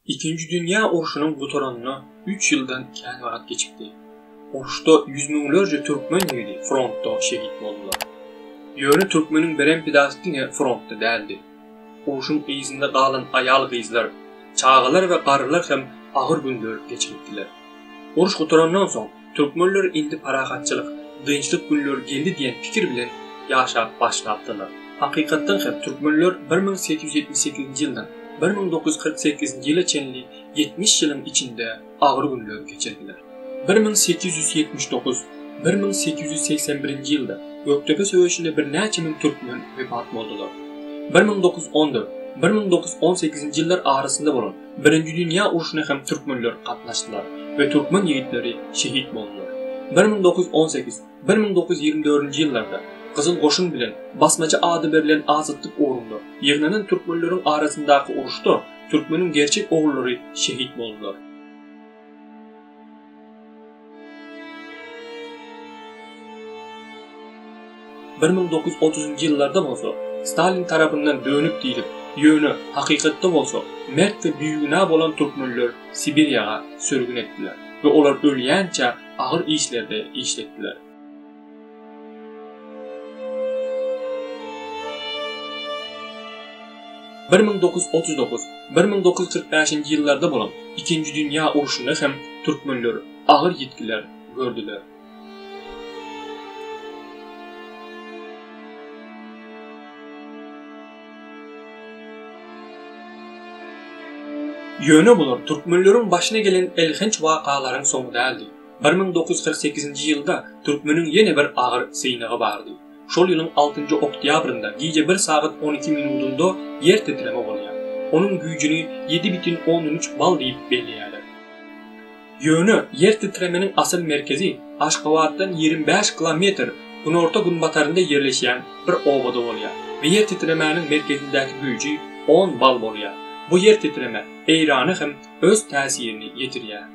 Ikinji dünýä urşunyň gutaranyna üç ýyldan kän wagt geçipdi. Uruşda ýüz müňlerçe türkmen ýigidi frontda şehit boldular. Ýöne türkmeniň beren pidasy diňe frontda däldi. Urşuň yzynda galan aýal-gyzlar, çagalar we garrylar hem agyr günler geçiripdiler. Uruş gutarandan soň, Türkmenler indi parahatçylyk, dynçlyk günleri geldi diýen pikir bilen ýaşap başlapdyrlar. Hakykatdan hem türkmenler bir müň sekiz ýüz ýetmiş sekizinji ýyldan bir müň dokuz ýüz kyrk sekizinji ýyla çenli ýetmiş ýylyň içinde agyr günleri geçirdiler. Bir müň sekiz ýüz ýetmiş dokuz, bir müň sekiz ýüz segsen birinji ýylda Gökdepe söweşinde birnäçe müň türkmen wepat boldular. Bir müň dokuz ýüz on dört, bir müň dokuz ýüz on sekizinji ýyllar arasynda bolan Birinji dünýä urşuna hem türkmenler gatnaşdylar we türkmen ýigitleri şehit boldular. Bir müň dokuz ýüz on sekiz, bir müň dokuz ýüz ýigrimi dördünji ýyllarda Gyzyl goşun bilen Basmaçy ady berlen azatlyk ugrunda ýygnanan türkmenleriň arasyndaky uruşda türkmeniň gerçek ogullary şehit boldular. Bir müň dokuz ýüz otuzynjy ýyllarda bolsa, Stalin tarapyndan dönük diýlip, ýöne, hakykatda bolsa, mert we bigünä bolan türkmenler Sibirýaga sürgün etdiler we olar ölýänçä agyr işlerde işletdiler. Bir müň dokuz ýüz otuz dokuz, bir müň dokuz ýüz kyrk bäşinji ýyllarda bolan Ikinji dünýä urşunda hem türkmenler agyr ýitgiler gördüler. Ýöne bular türkmenleriň başyna gelen elhenç wakalaryň soňy däldi. Bir müň dokuz ýüz kyrk sekizinji ýylda türkmeniň ýene bir agyr synagy bardy. Şol ýylyň altynjy oktýabrynda gije bir sagat on iki minudynda ýer titreme bolýar. Onuň güýjüni ýedi bütin ondan üç bal diýip belleýärler. Ýöne ýer titremeniň asyl merkezi Aşgabatdan ýigrimi bäş kilometr günorta-günbatarynda ýerleşýän bir obada bolýar we ýer titremäniň merkezindäki güýji on bal bolýar. Bu ýer titreme Eýrany hem öz täsirini ýetirýär.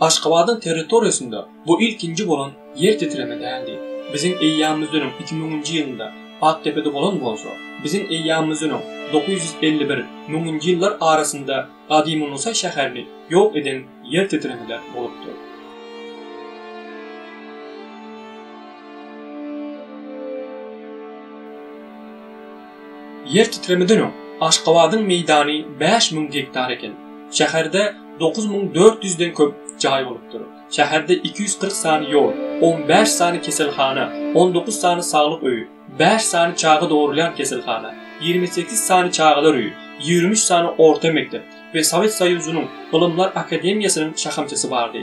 Aşgabadyň territoriýasynda bu ilkinji bolan ýer titreme däldi. Biziň eýýamymyzdan öň iki müňünji ýylynda Aktepede bolan bolsa, biziň eýýamymyzdan öň dokuz ýüz elli bir, müňünji ýyllar arasynda Gadymy-Nusaý şäherini ýok eden ýer titremeler bolupdyr. Ýer titremeden öň Aşgabadyň meýdany bäş müň gektar eken. Şäherde dokuz müň dört ýüzden köp jaý bolupdyr. Şäherde iki ýüz kyrk sany ýol, on bäş sany keselhana, on dokuz sany saglyk öýi, bäş sany çaga dogrulýan keselhana, ýigrimi sekiz sany çagalar öýi, ýigrimi üç sany orta mekdep we Sowet Soýuzynyň Ylymlar akademiýasynyň şahamçasy bardy.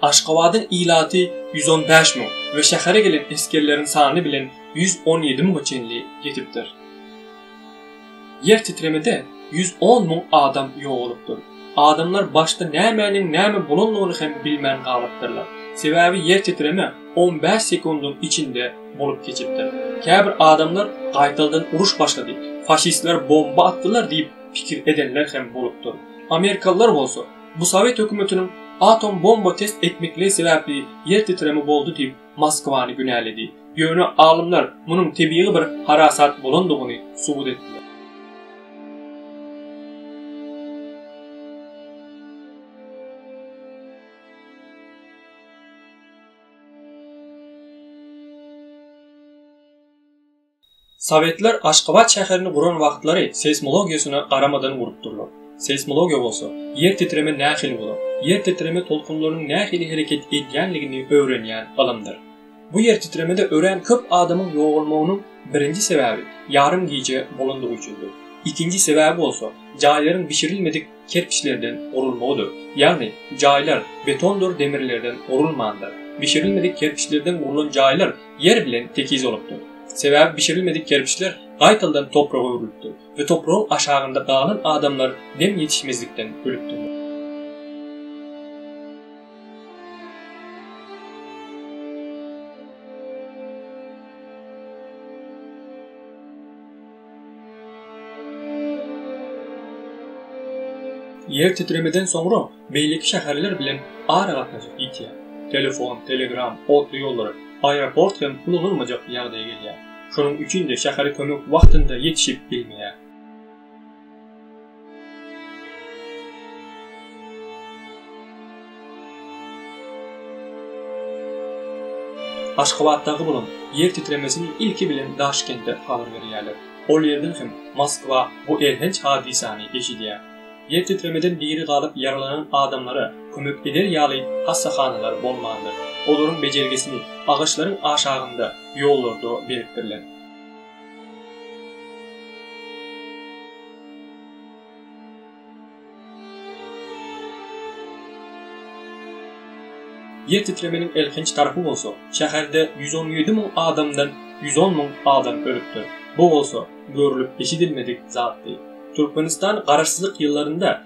Aşgabadyň ilaty ýüz on bäş müň we şähere gelen esgerleriň sany bilen ýüz on ýedi müňe çenli ýetipdir. Ýer titremede ýüz on müň adam ýogalypdyr. Adamlar başda nämäniň näme bolandygyny hem bilmän galypdyrlar. Sebäbi ýer titreme on bäş sekundyň içinde bolup geçipdir. Käbir adamlar gaýtaldan uruş başlady, faşistler bomba atdylar diýip pikir edenler hem bolupdyr. Amerikalylar bolsa, bu sowet hökümetiniň atom bomba test etmekliigi sebäpli ýer titreme boldy diýip Moskwany günäledi. Ýöne alymlar munuň tebigy bir harasat bolandygyny subut etdiler. Sowetler Aşgabat şäherini guran wagtlary seýsmologiýasyna garamadan gurupdyrlar. Seýsmologiýa bolsa, ýer titreme nähili bolar, ýer titreme tolkunlarynyň nähili hereket edýänligini öwrenýän ylymdyr. Bu ýer titremede örän köp adamyň ýogalmagynyň birinji sebäbi ýarym gije bolandygy üçindir. Ikinji sebäbi bolsa, jaýlaryň bişirilmedik, kerpiçlerden gurulmagydyr. Ýagny, jaýlar betondyr demirlerden gurulmandyr. Bişirilmedik kerpiçlerden gurlan jaýlar ýer bilen tekiz bolupdyr. Sebäbi bişirilmedik kerpiçler gaýtaldan topraga öwrülipdir we topragyň aşagynda galan adamlar dem ýetişmezlikden ölüpdirler. Ýer titremeden soňra beýleki şäherler bilen aragatnaşyk ýitýär. Telefon, telegram, otly ýollar, aeroport hem ulanylmajak ýagdaýa gelýär. Şonuň üçin-de şähere kömek wagtynda ýetişip bilmeýär. Aşgabatdaky bolan ýer titremesini ilki bilen Daşkende habar berýärler. Ol ýerden hem Moskwa bu elhenç hadysany eşidýär. Ýer titremeden diri galyp ýaralanan adamlara kömek eder ýaly hassahanalar bolmandyr. Olaryň bejergisini agaçlaryň aşagynda, ýollarda beripdirler. Ýer titremeginiň elhenç tarapy bolsa, şäherde ýüz on ýedi müň adamdan ýüz on müň adam ölüpdir. Bu bolsa görlüp-eşidilmedik zatdy. Türkmenistan garaşsyzlyk ýyllarynda